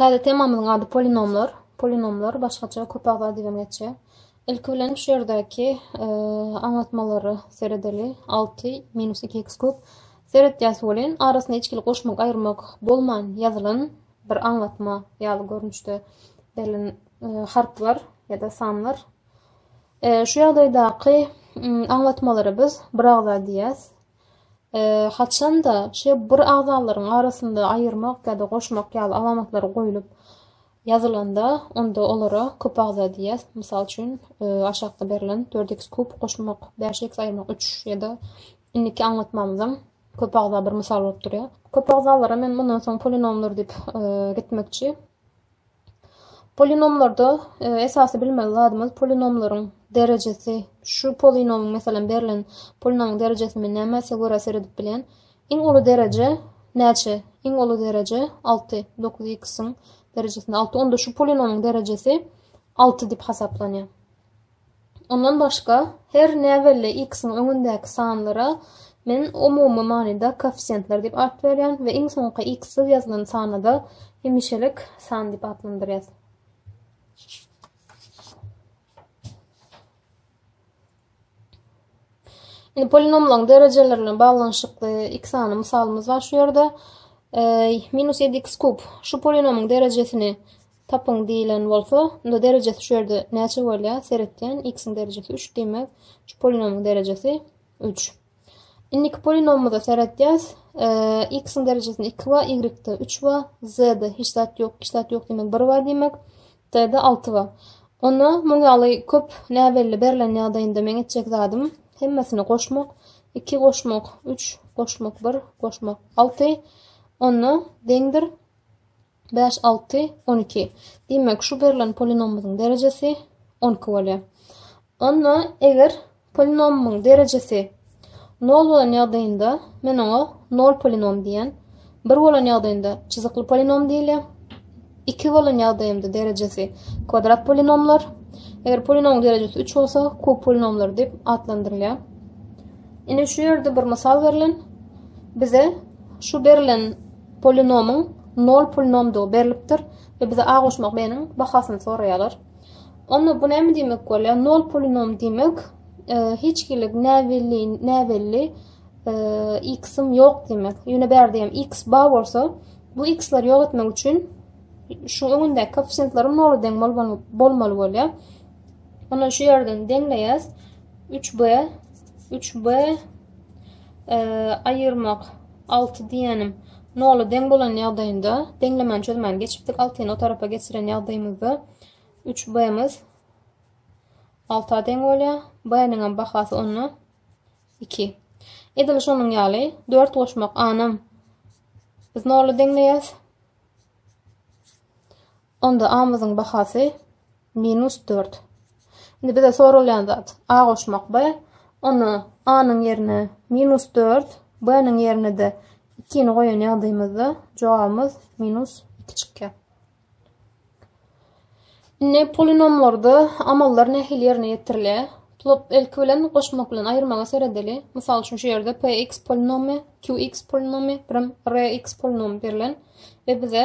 Täze temamyzyň ady polinomlar. Polinomlar, başgaça köp agza diýibem geçýär. Ilki bilen şu ýerdäki aňlatmalara seredeli. Alty minus iki x kub. Seretýäs welin, arasynda hiç hili goşmak, aýyrmak bolman ýazylan bir aňlatma ýaly görnüşde berlen harplar ýa-da sanlar. Şu ýagdaýdaky aňlatmalara biz biragza diýýäs. Haçan-da, şeýle bir agzalaryň arasynda aýyrmak ýa-da goşmak ýaly alamatlar goýlup ýazylanda, onda olara köpagza diýýär. Mysal üçin, aşakda berlen, dört x kub goşmak, bäş x aýyrmak, üç ýa-da indiki aňlatmamyzam köpagza bir mysal bolup durýar. Köpagzalara men mundan soň polinomlar diýip gitmekçi. Polinomlarda esasy bilmeli zadymyz polinomlaryň derejesi şu polinomyň meselem berlen polinomyň derejesimi nämese görä seredip bilýän iň uly dereje näçe iň uly dereje 6 9 x-iň derejesinde 6 onda şu polinomyň derejesi 6 diýip hasaplanýar. Ondan başga, her näbelli x-iň öňündäki sanlara men umumy manyda koeffisiýentler diýip at berýän we iň soňky x-siz ýazylan sany-da hemişelik san diýip atlandyrýas. Indi polinomlaryň derejeleri bilen baglanyşykly iki sany mysalymyz bar şu ýerde. Minus ýedi x kub şu polinomyň derejesini Tapyň diýilen bolsa, onda derejesi şu ýerde näçe bolýar? Seretýän, x-iň derejesi üç, diýmek, şu polinomyň derejesi üç. Indiki polinomymyza seretýäs. X-iň derejesinde iki bar, y-de üç bar, z-de hiç zat ýok, hiç zat ýok diýmek bir bar diýmek, t-de alty bar. Onda muň ýaly köp näbelli berlen ýagdaýynda meň etjek zadym hemmesini goşmak, iki goşmak, üç goşmak, bir goşmak, alty onda deňdir. Bäş, alty, on iki. Diýmek, şu berlen polinomymyzyň derejesi on iki bolýar. Onda eger polinomymyň derejesi nol bolan ýagdaýynda men oňa nol polinom diýýän. Bir bolan ýagdaýynda çyzykly polinom diýilýär. Iki bolan ýagdaýynda derejesi kwadrat polinomlar. Eger polinomyň derejesi üç bolsa, kub polinomlar diýip atlandyrylýar. Ine şu ýerde bir mysal berlen. Bize şu berlen Polinomyň nol polinomdygy berlipdir we bize A goşmak B-niň bahasyny soraýarlar. Onda bu näme diýmek bolýar? Nol polinom diýmek, e, hiç hili näbelli, näbelli e, x-im ýok diýmek. Ýöne bärde hem x bar bolsa, bu x-leri ýok etmek üçin şu öňündäki koeffisiýentlerim nola deň bolmaly bolýar. Onda şu ýerden deňleýäs. 3b 3b aýyrmak, alty diýýänim, nola deň bolan ýagdaýynda, deňlemäni çözmäni geçipdik, altyny o tarapa geçiren ýagdaýymyzda üç b-miz alta deň bolýar. B-niňem bahasy onda iki. Edil şonuň ýaly dört goşmak a-nam biz nola deňleýäs. Onda A-myzyň bahasy minus dört. Indi bize soralýan zat A goşmak B. Onda A-nyň ýerine minus dört, B-niň ýerine-de ikini goýan ýagdaýymyzda jogabymyz minus iki çykýar. Indi polinomlarda amallar nähili ýerine ýetirilýär? Plot ilki bilen goşmak bilen aýyrmaga seredeli. Mysal üçin, şu ýerde px polinomy, qx polinomy, birim rx polinomy berlen we bize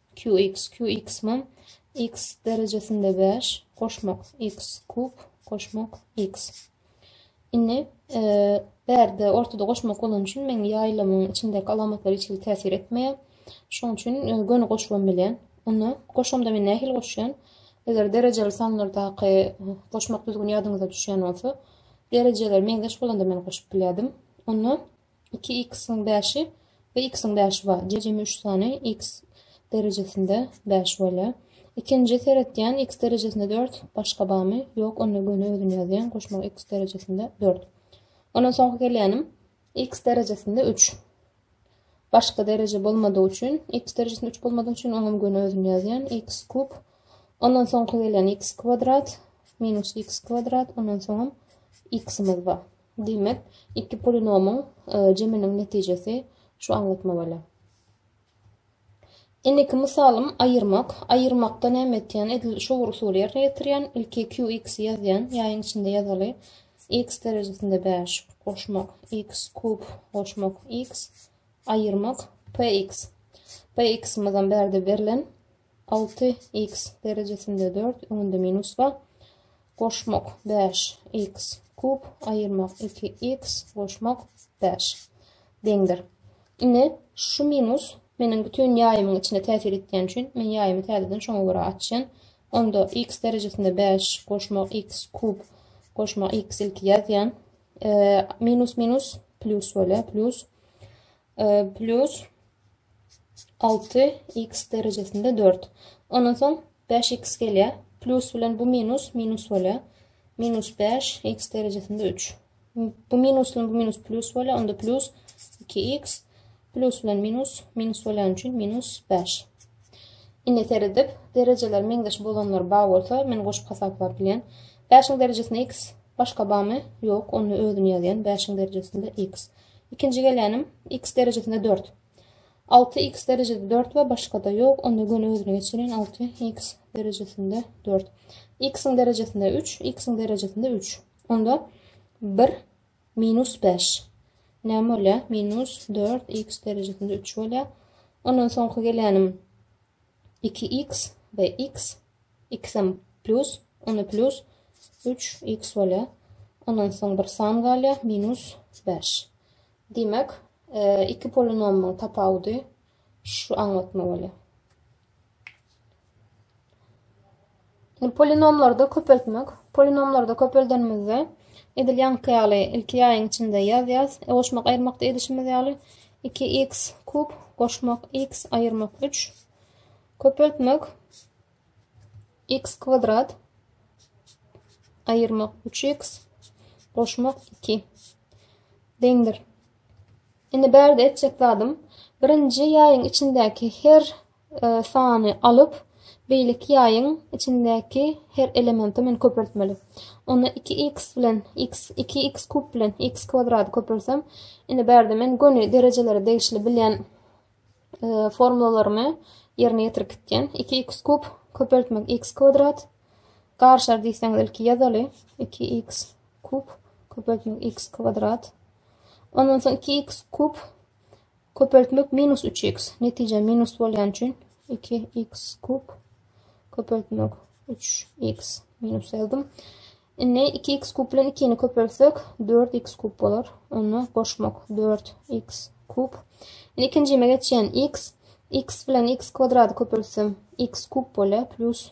Qx, Qx man, X derejesinde bäş, goşmak, X kub, goşmak, X. Indi, e, bärde ortada goşmak bolan üçin men ýaýlamyň içindäki alamatlar hiç hili täsir etmeýär. Şoň üçin e, göni goşubam bilýän. Onda goşamda men nähili goşýan? Eger derejeli sanlardaky e, goşmak düzgüni ýadyňyza düşýän bolsa, derejeler meňzeş bolanda men goşup bilýärdim. Onda iki x-iň bäşi we x-iň bäşi bar. Jemi üç sany x derejesinde bäş bolýar. Ikinji seretýän x derejesinde dört başga barmy? Ýok, onda göni özüni ýazýan goşmak x derejesinde dört. Ondan soňky gelýänim x derejesinde üç. Başga dereje bolmadygy üçin, x derejesinde üç bolmadygy üçin oňam göni özüni ýazýan x kub. Ondan soňky gelýän x kwadrat minus x kwadrat, ondan soňam x-imiz bar. Diýmek, iki polinomyň jeminiň netijesi şu aňlatma bolýar. Indiki mysalym aýyrmak. Aýyrmakda näme etýän? Edil şu bir usuly ýerine ýetirýän. Ilki qx ýazýan. Ýaýyň içinde ýazaly. X derejesinde 5 goşmak x kub goşmak x aýyrmak px. Px-imizem bärde berlen. Alty, iks, derejesinde dört, öňünde minus bar. Goşmak, bäş, iks, kub, aýyrmak, iki, iks, goşmak, bäş. Deňdir. Indi şu minus meniň bütin ýaýymyň içine täsir etýän üçin, men ýaýymy täzeden şoňa görä açýan. Onda iks derejesinde bäş, goşmak, iks, kub, goşmak, iks, ilki ýazýan. E, minus, minus, plus bolýar, plus. Plus 6 x derejesinde 4. Ondan soň 5 x gelýär. Plus bilen bu minus minus bolýar. Minus 5 x derejesinde 3. Bu minus bilen bu minus plus bolýar. Onda plus 2 x plus bilen minus minus bolýan üçin minus 5. Indi seredip, derejeler meňzeş bolanlar bar bolsa, men goşup hasaplap bilýän. 5-iň derejesinde x başga barmy? Ýok, onda özüni ýazýan 5-iň derejesinde x. Ikinji gelänim, x derejesinde dört. Alty x derejesinde dört we başgada ýok, onda göni özüne geçirin, alty x derejesinde dört. X-iň derejesinde üç, x-iň derejesinde üç. Onda bir minus beş. Näme bolýar? Minus dört x derejesinde üç bolýar. Ondan soňky gelänim, iki iks we iks iksem plýus ony plýus üç iks bolýar ondan soň bir san galýar minus bäş diýmek iki polinomyň tapawudy şu aňlatma bolýar. Polinomlarda köpeltmek. Polinomlarda köpeldenimizde edil ýaňky ýaly ilki ýaýyň içinde ýaz ýaz e, goşmak aýyrmakda edişimiz ýaly 2x kub goşmak x aýyrmak 3 köpeltmek x kwadrat aýyrmak 3x goşmak 2 deňdir. Indi bärde etjek zadym birinji ýaýyň içindäki her sany alyp, beýleki ýaýyň içindäki her elementi men köpeltmeli. Onda iki x bilen x, iki x kub bilen x kwadrady köpelsem, indi bärde men göni derejelere degişli bilýän formulalarymy ýerine ýetirip gitýän. Iki x kub köpeltmek x kwadrat garşar diýseňiz ilki ýazaly. Iki x kub köpeltmek x kwadrat. Ondan soň iki x kub Köpeltmek minus üç x netije minus bolýan üçin iki x kub köpeltmek üç x minus ýazdym. Indi iki x kub bilen ikini köpeltsek dört x kub bolar. Onda goşmak dört x kub. Indi ikinjime geçýän x x bilen x kwadrady köpeltsem x kub bolýar plus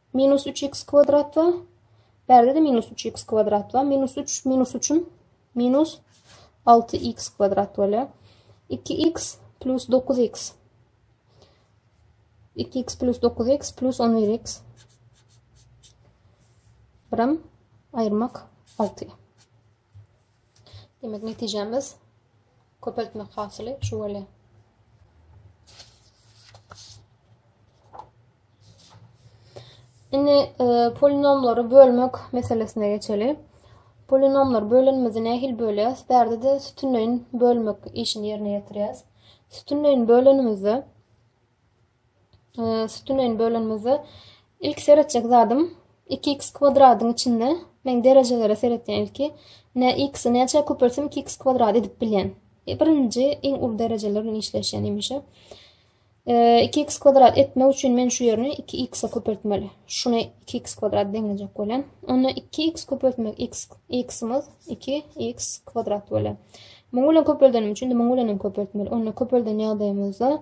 Minus üç x kwadrat bar. Bärde-de minus üç x kwadrat bar. Minus üç minus üçüm minus alty x kwadrat bolýar. Iki x plus dokuz x. Iki x plus dokuz x plus on bir x. Birim ayırmak altı. Demek, netijemiz köpeltmek hasyly şu bolýar. Indi e, polinomlary bölmek meselesine geçeli. Polinomlar bölünmesi nähil bölýäs? Bärde de sütünleýin bölmek işini ýerine ýetirýäs. Sütünleýin bölünmesi Sütünleýin bölenimizde ilki seretjek zadym iki x kwadradyň içinde men derejelere seretýän ilki ne x-i näçe köpeltsem iki x kwadrat edip bilýän. E, birinji iň uly derejeler bilen işleşýän hemişe. E, iki x kwadrat etmek üçin men şu ýerini iki x-e köpeltmeli. Şuny iki x kwadrat deňlejek bolýan. Onda iki x köpeltmek x x-imiz iki x kwadrat bolýar. Muňa bilen köpeldenim üçin muňa bilen köpeltmeli. Onda köpelden ýagdaýymyzda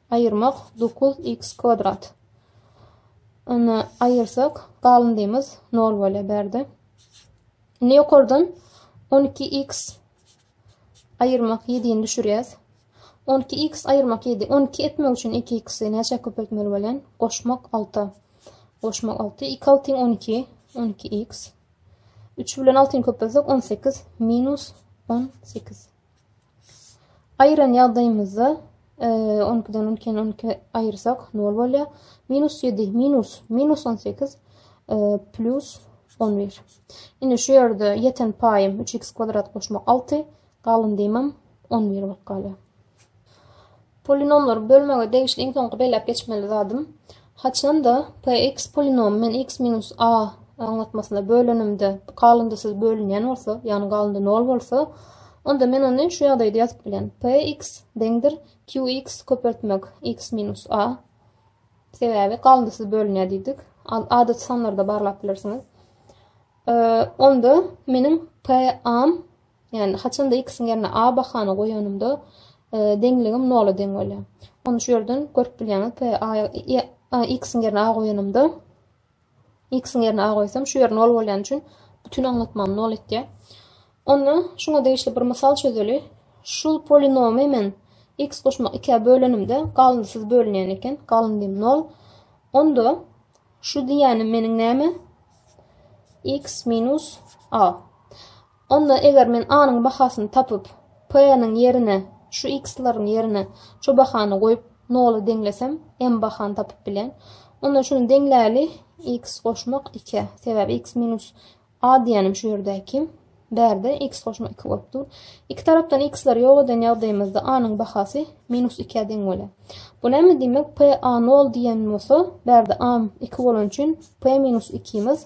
Aýyrmak, dokuz iks kwadrat. Ony aýyrsak, galyndymyz nol bolýar bärde. Indi ýokardan on iki iks aýyrmak ýedini düşürýäs. On iki iks aýyrmak ýedi. On iki etmek üçin iki iksi näçä köpeltmeli bolýan? Goşmak alta. Goşmak alty. Iki altyň on iki. On iki iks. Üç bilen altyny köpeltsek on sekiz. Minus on sekiz. Aýyran ýagdaýymyzda, onukiden ulkeni onukini aýyrsak nol bolýar. Minus ýedi, minus, minus on sekiz, plus on bir. Indi şu ýerde ýeten paýym üç x kwadrat goşmak alty, galan diýmem on bir bolup galýar. Polinomlary bölmege degişli iň soňky belläp geçmeli zadym, haçanda px polinomy men x minus a aňlatmasyna bölenimde galyndysyz bölünýän bolsa, ýagny galyndy nol bolsa, onda men ony şu ýagdaýda ýazyp bilen, px deňdir qx köpeltmek x minus a, sebäbi galyndysyz bölünýär diýdik, adaty sanlarda barlap bilersiňiz. Onda meniň p-am Ýagny haçanda x-iň ýerine a bahany goýanymda deňligim nola deň bolýar. Ony şu ýerden görüp bilýäňiz. P a x-iň ýerine a goýanymda x-iň ýerine a goýsam şu ýer nol bolýan üçin bütün aňlatmamy nol etýär. Onda şuňa degişli bir mysal çözeli. Şul polinomy men x goşmak 2-ä bölenimde galyndysyz bölünýän eken. Galyndym 0. Onda şu diýýänim meniň näme? x minus a. Onda eger men A-nyň bahasyny tapyp, P-niň ýerine, şu x-laryň ýerine şu bahany goýup, nola deňlesem, m bahany tapyp bilýän. Onda şuny deňläli, x goşmak iki. Sebäbi x minus a diýýänim şu ýerdäki. Bärde x goşmak iki bolup dur. Iki tarapdan x-lary ýok eden ýagdaýymyzda a-nyň bahasy minus ikä deň bolýar. Bu näme diýmek? P a nol diýen bolsa, bärde a iki bolan üçin p minus ikimiz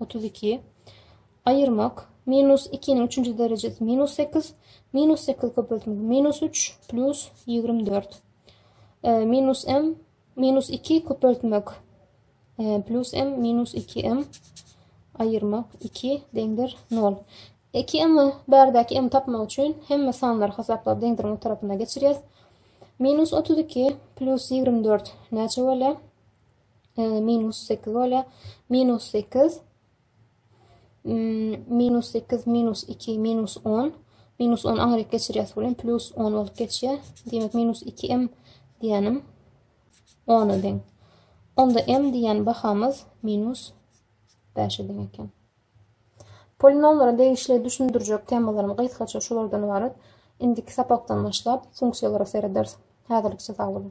Otuz iki. Aýyrmak. Minus ikiniň üçünji derejesi minus sekiz. Minus sekiz köpeltmek. Minus üç plus ýigrimi dört. E, minus m minus iki köpeltmek. E, plus m minus iki m aýyrmak iki deňdir nol. Iki m bärdäki m tapmak üçin hemme sanlary hasaplap deňdiriň o tarapyna geçirýäs. Minus otuz iki plus ýigrimi dört näçe bolýar? minus sekiz bolýar. Minus sekiz, minus sekiz, minus iki, minus on. Minus on aňryk geçirýäs bilen plus on bolup geçýär. Demek, minus iki m diýenim ona deň. Onda m diýen bahamyz minus beşe deň eken. Polinomlara degişli düşündirjek temalarym gysgaça şulardan ibarat. Indiki sapakdan başlap funksiýalara serederis. Häzirlikçe sag boluň.